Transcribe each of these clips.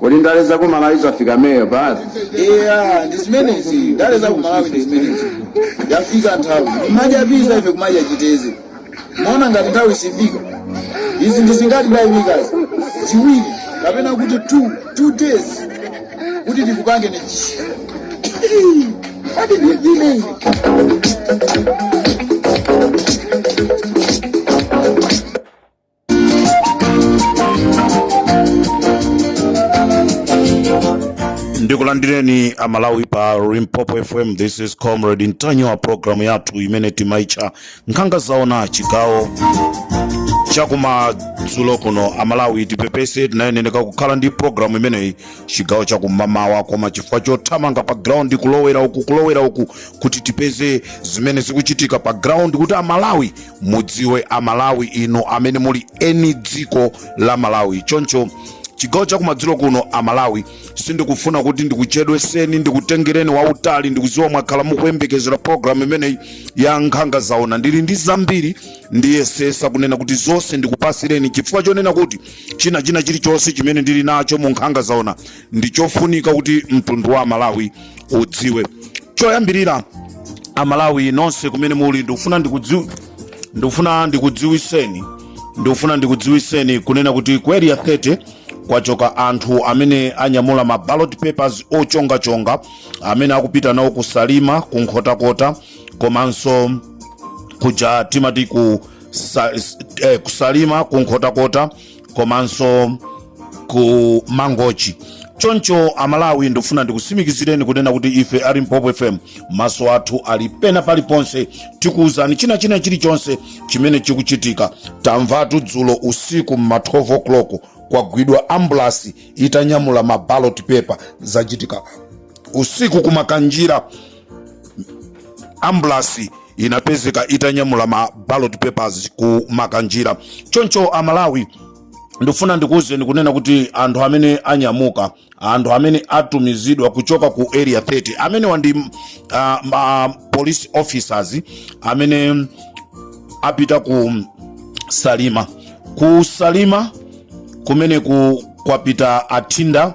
kodi ndale za ku malawi zafika meyo basi eya ndi zimenezi ndale za ku malawi ndi zimenezi yafika nthawi kumadya pizza ife kumadya chiteze maona ngati nthawi siifika izi ndi zingati dayimikazi ziwiri kapena kuti two two days kuti tikupange ni adi ndivine ndikulandireni amalawi pa limpopo fm this is comrade ntanyiwa programu yathu imene timaitcha nkhanga zaona chigawo chakumadzulo kuno amalawi tipepese tinayeneneka kukhala ndi programu imeneyi chigawo chakumamawa koma chifukwa chothamanga pa ground kulowera uku kulowera uku kuti tipeze zimene zikuchitika pa ground kuti amalawi mudziwe amalawi inu amene muli eni dziko la malawi choncho chigawo chakumadzulo kuno amalawi sindikufuna kuti ndikuchedweseni ndikutengereni wautali ndikuziwa mwakhala mukuyembekezera programu imeneyi ya nkhanga zaona ndili ndi zambiri ndiyesesa kunena kuti zonse ndikupasireni chifukwa chonena kuti china china chilichonse chimene ndili nacho mu nkhanga zaona ndi chofunika kuti mtundu wa amalawi udziwe choyambirira amalawi nonse kumene muli ndikufuna ndikudziw ndikufuna ndikudziwiseni ndikufuna ndikudziwiseni kunena kuti ku area 30 kwachoka anthu amene anyamula ma ballot papers ochongachonga amene akupita nawo ku salima ku nkhotakota komanso kuja timati ku sa, eh, kusalima ku nkhotakota komanso ku mangochi choncho amalawi ndifuna ndikusimikizireni kunena kuti ife a limpopo fm maso athu ali pena paliponse tikuwuzani china china chilichonse chimene chikuchitika tamvatu dzulo usiku mma 12 o'clock kwagwidwa ambulasi itanyamula mabalot paper zachitika usiku kumakanjira ambulasi inapezeka itanyamula ma ballot papers ku makanjira choncho amalawi ndifuna ndikuwuzeni kunena kuti anthu amene anyamuka anthu amene atumizidwa kuchoka ku area 30 amenewa ndi uh, ma police officers amene apita ku salima ku salima kumeneku kwapita athinda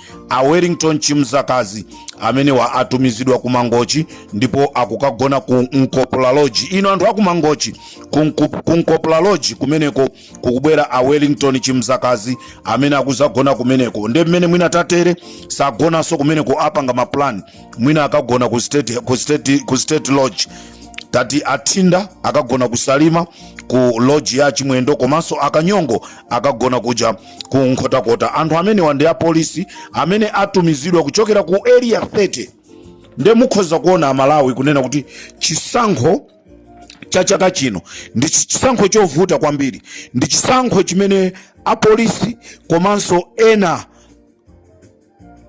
a wellington chimzakazi amenewa atumizidwa ku mangochi ndipo akukagona ku nkopola lodge inu anthu aku mangochi ku Nku- ku nkopola lodge kumeneko kukubwera a wellington chimzakazi amene akuzagona kumeneko nde mmene mwina tatere sagonanso kumeneko apanga maplan mwina akagona ku state, ku state, ku state lodge tati athinda akagona ku salima ku lodge ya chimwendo komanso akanyongo akagona kuja ku nkhotakota anthu amenewa ndi apolisi amene atumizidwa kuchokera ku area 30 nde mukhoza kuona amalawi kunena kuti chisankho cha chaka chino ndi chi- chisankho chovuta kwambiri ndi chisankho chimene apolisi komanso ena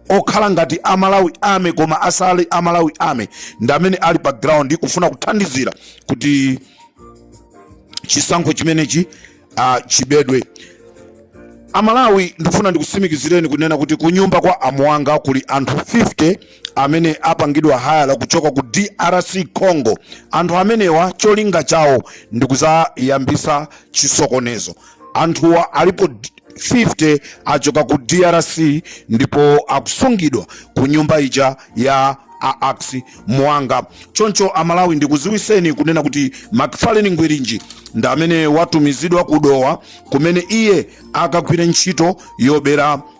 okhala ngati a malawi army koma asali a malawi army ndi amene ali pa ground kufuna kuthandizira kuti chisankho chimenechi uh, chibedwe amalawi ndikufuna ndikusimikizireni kunena kuti kunyumba kwa amuwanga kuli anthu 50 amene apangidwa hayala kuchoka ku drc congo anthu amenewa cholinga chawo ndikuzayambisa chisokonezo anthuwa alipo 50 achoka ku drc ndipo akusungidwa ku nyumba ija ya a axi muwanga choncho amalawi ndikuziwiseni kunena kuti macfarlane ngwirinji ndi amene watumizidwa ku dowa kumene iye akagwire ntchito yobera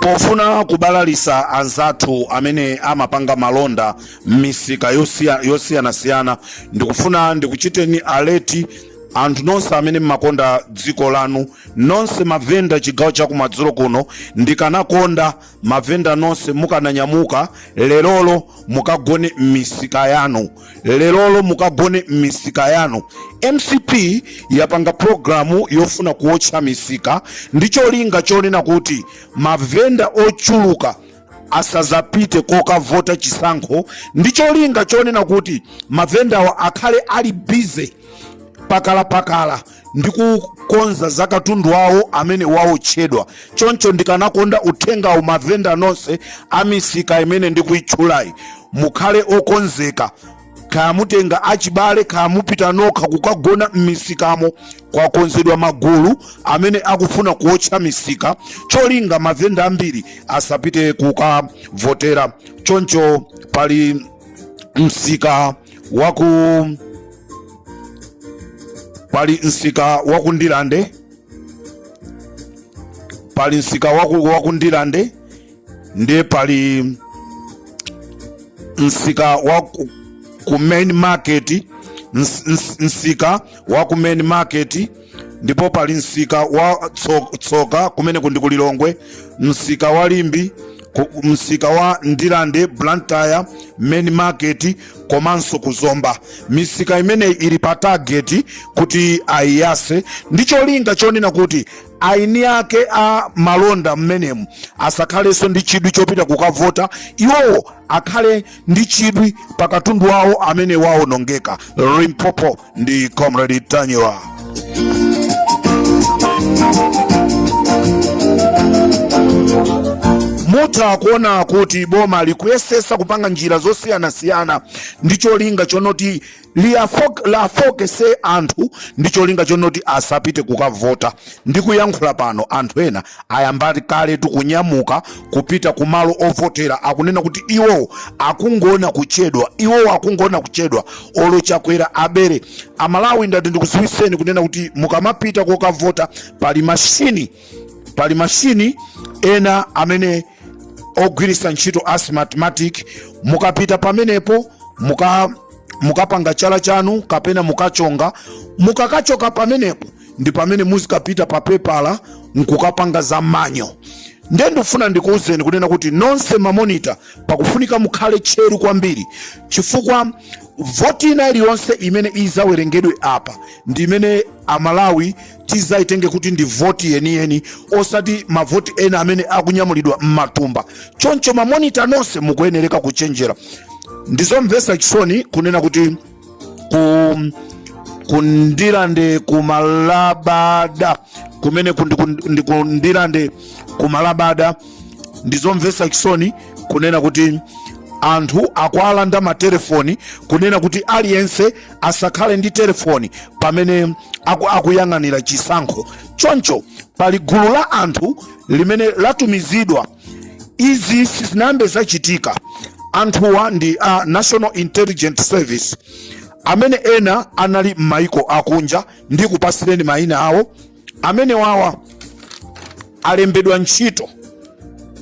pofuna kubalalisa anzathu amene amapanga malonda m'misika yosiya- yosiyanasiyana ndikufuna ndikuchiteni alert anthu nonse amene mmakonda dziko lanu nonse mavenda chigawo chakumadzulo kuno ndikanakonda mavenda nonse mukananyamuka lerolo mukagone m'misika yanu lerolo mukagone m'misika yanu mcp yapanga programu yofuna kuotcha misika ndi cholinga chonena kuti mavenda ochuluka asazapite kokavota chisankho ndi cholinga chonena kuti mavendawa akhale ali busy pakalapakala ndi kukonza za katundu wawo amene waotchedwa choncho ndikanakonda uthengawu mavenda nonse a misika imene ndikuitchulayi mukhale okonzeka kaya mutenga achibale kaya mupita nokha kukagona m'misikamo kwakonzedwa magulu amene akufuna kuotcha misika cholinga mavenda ambiri asapite kukavotera choncho pali msika waku pali msika waku ndilande pali msika waku, waku ndilande ndiye pali msika wa ku- ku main market ns- ns- msika wa ku main market ndipo pali msika wa tso- tsoka kumeneku ndi ku lilongwe msika wa limbe ku- msika wa ndilande blantyre main market komanso ku zomba misika imeneyi ili pa target kuti ayiyase ndi cholinga chonena kuti aini ake a malonda mmenemu asakhalenso ndi chidwi chopita kukavota iwowo akhale ndi chidwi pa katundu wawo amene waonongeka limpopo ndi comrade ntanyiwa mutha kuona kuti boma likuyesesa kupanga njira zosiyanasiyana ndi cholinga chonoti liyafok- lafokese anthu ndi cholinga chonoti asapite kukavota Ndikuyankhula pano anthu ena ayamba kaletu kunyamuka kupita ku malo ovotera, akunena kuti iwowo akungoona kuchedwa, iwowo akungoona kuchedwa olo Chakwera abere. A Malawi ndati ndikuziwiseni kunena kuti mukamapita kokavota pali mashini, pali mashini ena amene akugwirisa ntchito a Smartmatic, mukapita pamenepo muka mukapanga chala chanu kapena mukachonga, mukakachoka pamenepo ndi pamene muzikapita pa pepala nkukapanga za manyo ndiye ndikufuna ndikuwuzeni kunena kuti nonse mamonita pakufunika mukhale tcheru kwambiri chifukwa voti ina iliyonse imene izawerengedwe apa ndi imene Amalawi tizayitenge kuti ndi voti yeniyeni osati mavoti ena amene akunyamulidwa m'matumba choncho mamonita nonse mukuyenereka kuchenjera ndizomvesa chisoni kunena kuti ku ku Ndirande ku Malabada kumene kundi- kundi- ndi ku Ndirande ku Malabada ndizomvesa chisoni kunena kuti anthu akuwalanda matelefoni kunena kuti aliyense asakhale ndi telefoni pamene aku, akuyang'anira chisankho choncho pali gulu la anthu limene latumizidwa izi sizinayambe zachitika anthuwa ndi a National Intelligence Service amene ena anali m'maiko akunja ndikupasireni mayina awo amene wawa alembedwa ntchito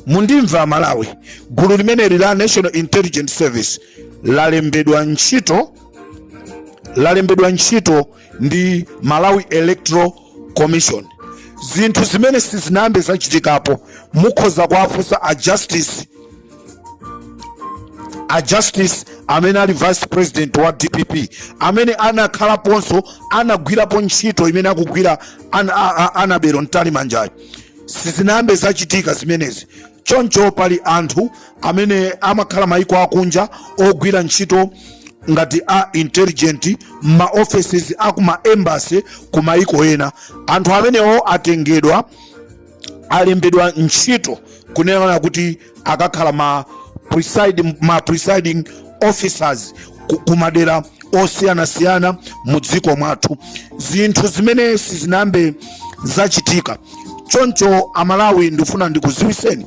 mundimva Amalawi gulu limeneli la National Intelligence Service lalembedwa ntchito lalembedwa ntchito ndi Malawi Electoral Commission zinthu zimene sizinayambe zachitikapo mukhoza kuwafunsa a justice a justice amene ali vice president wa DPP amene anakhalaponso anagwirapo ntchito imene akugwira ana- a- a- Annabel Mtalimanjayo sizinayambe zachitika zimenezi choncho pali anthu amene amakhala maiko akunja ogwira ntchito ngati a intelligent ma officers a ku ma embassy ku maiko ena anthu amenewo atengedwa alembedwa ntchito kunena kuti akakhala ma presiding, ma presiding officers kumadera osiyanasiyana mu dziko mwathu zinthu zimene sizinayambe zachitika choncho Amalawi ndifuna ndikuziwiseni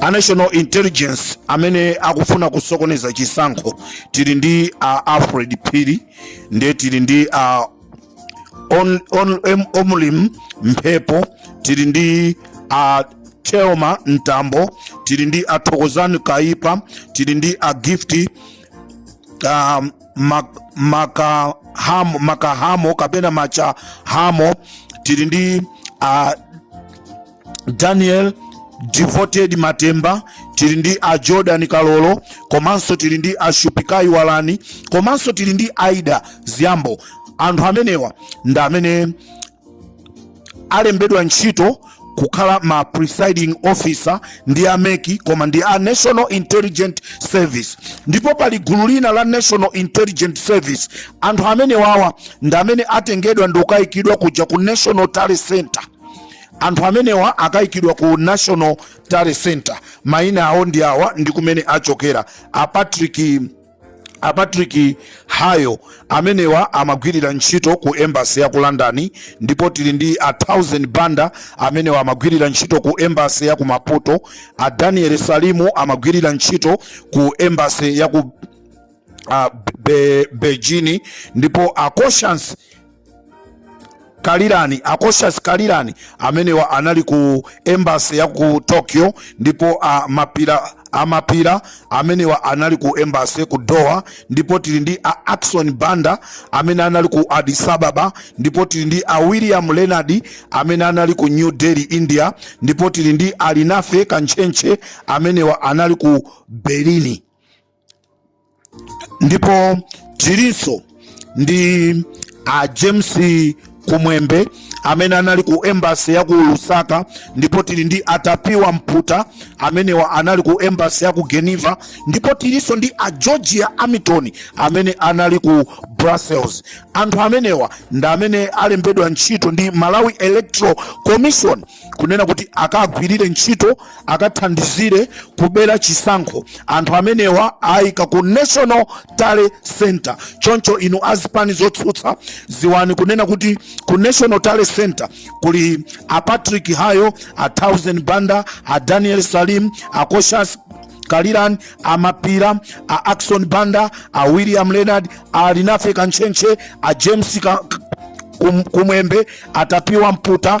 a national intelligence amene akufuna kusokoneza chisankho tili ndi a alfred phiri ndiye tili ndi a on, on, em, omlim mphepo tili ndi a telma mtambo tili ndi a thokozani kaipa tili ndi a gifti uh, mak, makahamo, makahamo kapena machahamo tili ndi uh, daniel devoted matemba tili ndi a jordan kalolo komanso tili ndi a shupikai walani komanso tili ndi aida ziyambo anthu amenewa ndi amene alembedwa ntchito kukhala ma presiding officer ndi a MEC koma ndi a national intelligence service ndipo pali gulu lina la national intelligence service anthu amenewawa ndi amene atengedwa ndi kukayikidwa kuja ku national tally center anthu amenewa akaikidwa ku national tally center maina awo ndi awa ndi kumene achokera a patrick a patrick hayo amenewa amagwirira ntchito ku embassy ya ku london ndipo tili ndi a thousand banda amenewa amagwirira ntchito ku embassy ya ku maputo a daniel salimu amagwirira ntchito ku embassy ya ku uh, be, beijing ndipo a koshansi kalirani a koshansi kalirani amenewa anali ku embassy ya ku tokyo ndipo uh, mapira a mapira amenewa anali ku embassy ya ku doha ndipo tili ndi a ackson banda amene anali ku addis ababa ndipo tili ndi a william leonard amene anali ku new delhi india ndipo tili ndi a linafe kantchentche amenewa anali ku berlin ndipo tilinso ndi a James Kumwembe amene anali ku embassy ya ku Lusaka ndipo tili ndi a Tapiwa Mputa amenewa anali ku embassy ya ku Geneva ndipo tilinso ndi a Georgia Hamilton amene anali ku Brussels. Anthu amenewa ndi amene alembedwa ntchito ndi Malawi Electoral Commission kunena kuti akagwirire ntchito akathandizire kubera chisankho anthu amenewa ayika ku national tally center choncho inu a zipani zotsutsa dziwani kunena kuti ku national tally center kuli a patrick hayo a thousand banda a daniel salim a koshas kalirani a mapira a ackson banda a william leonard a linafe kantchentche a james Ka- Kum- kumwembe a tapiwa mputa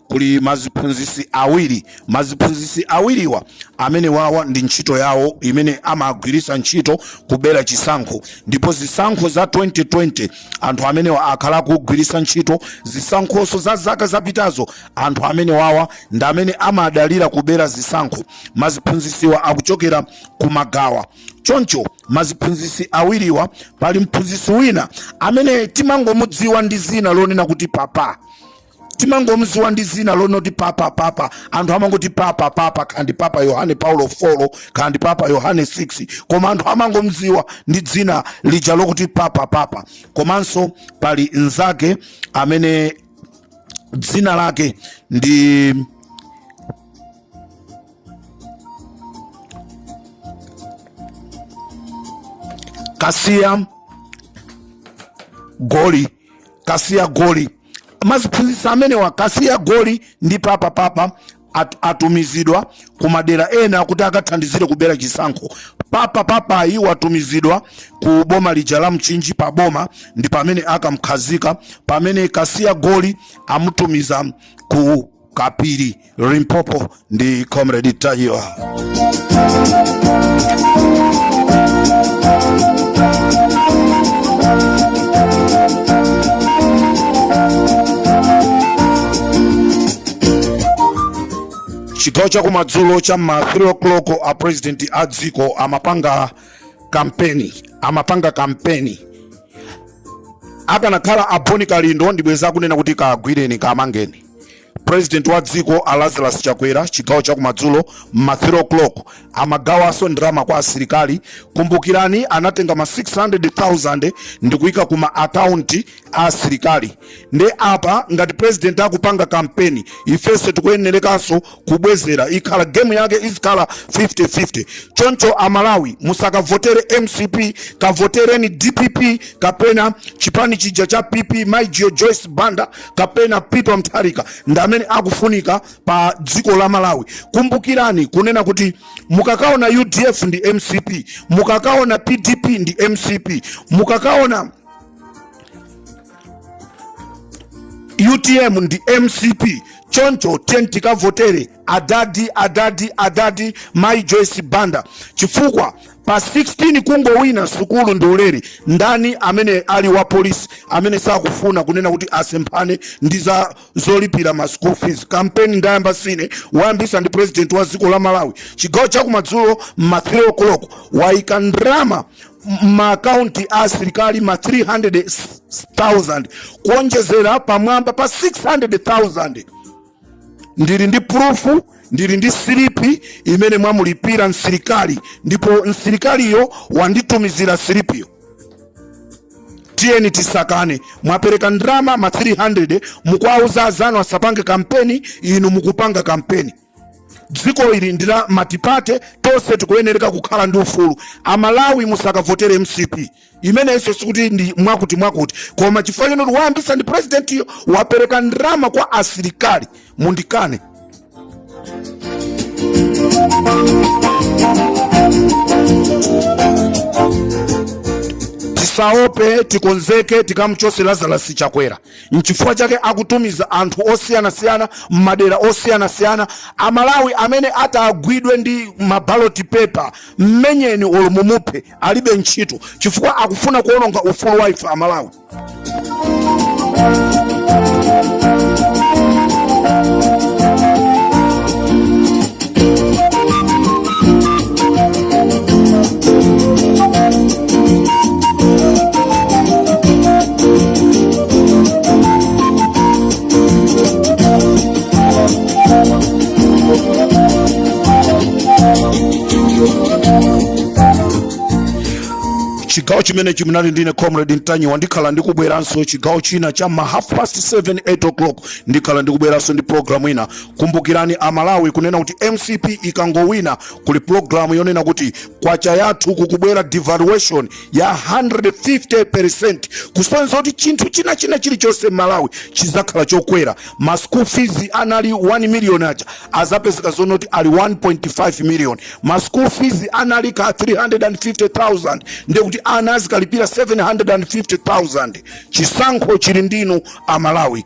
kuli maziphunzisi awiri maziphunzisi awiriwa amene wawa ndi ntchito yawo imene amagwirisa ntchito kubera chisankho ndipo zisankho za 2020 anthu amenewa akhala akugwirisa ntchito zisankhoso za zaka zapitazo anthu amene wawa ndi amene amadalira kubera zisankho maziphunzisiwa akuchokera kumagawa choncho maziphunzisi awiriwa pali mphunzisi wina amene timangomudziwa ndi dzina lonena kuti papa timangomziwa ndi dzina lonoti papa papa anthu amangoti papa papa kaya ndi papa yohane paulo 4 kaya ndi papa yohane 6 koma anthu amangomziwa ndi dzina lija lokuti papa papa komanso pali nzake amene dzina lake ndi kasiya goli kasiya goli maziphunzitsi amenewa kasiya goli ndi papa papa at, atumizidwa ku madera ena kuti akathandizire kubera chisankho papa papayi watumizidwa ku boma lija la mchinji pa boma ndi pamene akamkhazika pamene kasiya goli amutumiza ku kapiri limpopo ndi comrade mtanyiwa chigawo cha kumadzulo cha ma 3 o'clock a president a dziko amapanga kampeni amapanga kampeni akanakhala aboni kalindo ndi bwenzi akunena kuti kagwireni kamangeni president wa dziko a Lazarus Chakwera chigawo cha kumadzulo ma 3 o'clock amagawanso ndalama kwa asilikali. Kumbukirani anatenga ma 600,000 ndi kuika ku ma account a asilikali. Nde apa ngati president akupanga kampeni, ifense tikuyenerekanso kubwezera ikhala game yake izikhala 50-50 choncho amalawi musakavotere mcp kavotereni dpp kapena chipani chija cha pp mai joyi joyce banda kapena peter mutharika ndi amene akufunika pa dziko la malawi kumbukirani kunena kuti mukakaona udf ndi mcp mukakaona pdp ndi mcp mukakaona utm ndi mcp choncho tiyeni tikavotere adadi adadi adadi mai joyce banda chifukwa pa 16 kungowina sukulu ndi ulere ndani amene ali wa polisi amene sakufuna kunena kuti asemphane ndi za zolipira ma school fees kampeni ndayamba sine wayambisa ndi president wa dziko la malawi chigawo chakumadzulo ma 3 o'clock wayika ndrama maakaunti a asilikali ma 300,000 kuonjezera pamwamba pa 600,000. Ndili ndi purufu, ndili ndi silipi imene mwamulipira msilikali, ndipo msilikaliyo wanditumizira silipiyo. Tiyeni tisakane, mwapereka ndalama ma 300 mukuwauza azanu asapange kampeni, inu mukupanga kampeni. dziko ili ndi la matipate tonse tikuyenereka kukhala ndi ufulu amalawi musakavotere mcp zimenezo sikuti ndi mwakuti mwakuti koma chifukwa chonoti wayambisa ndi presidentiyo wapereka ndalama kwa asilikali mundikane tisaope tikonzeke tikamchose lazarus chakwera Nchifukwa chake akutumiza anthu osiyanasiyana m'madera osiyanasiyana. Amalawi amene atagwidwe ndi mabaloti pepa, mmenyeni olo mumuphe, alibe ntchito chifukwa akufuna kuononga ufulu wa ife Amalawi. chigawo chimenechi munali ndine comrade ntanyiwa ndikhala ndikubweranso chigawo china cha ma half past 7 8 o'clock ndikhala ndikubweranso ndi program ina Kumbukirani a Malawi kunena kuti mcp ikangowina kuli program yonena kuti kwacha yathu kukubwera devaluation ya 150% kusonyeza kuti chinthu china china chilichonse m'Malawi chizakhala chokwera. Ma school fees anali 1 million aja azapezeka zonoti ali 1.5 million. Ma school fees anali ka 350,000 ndiye kuti ana azikalipira 750,000. Chisankho chili ndinu a Malawi.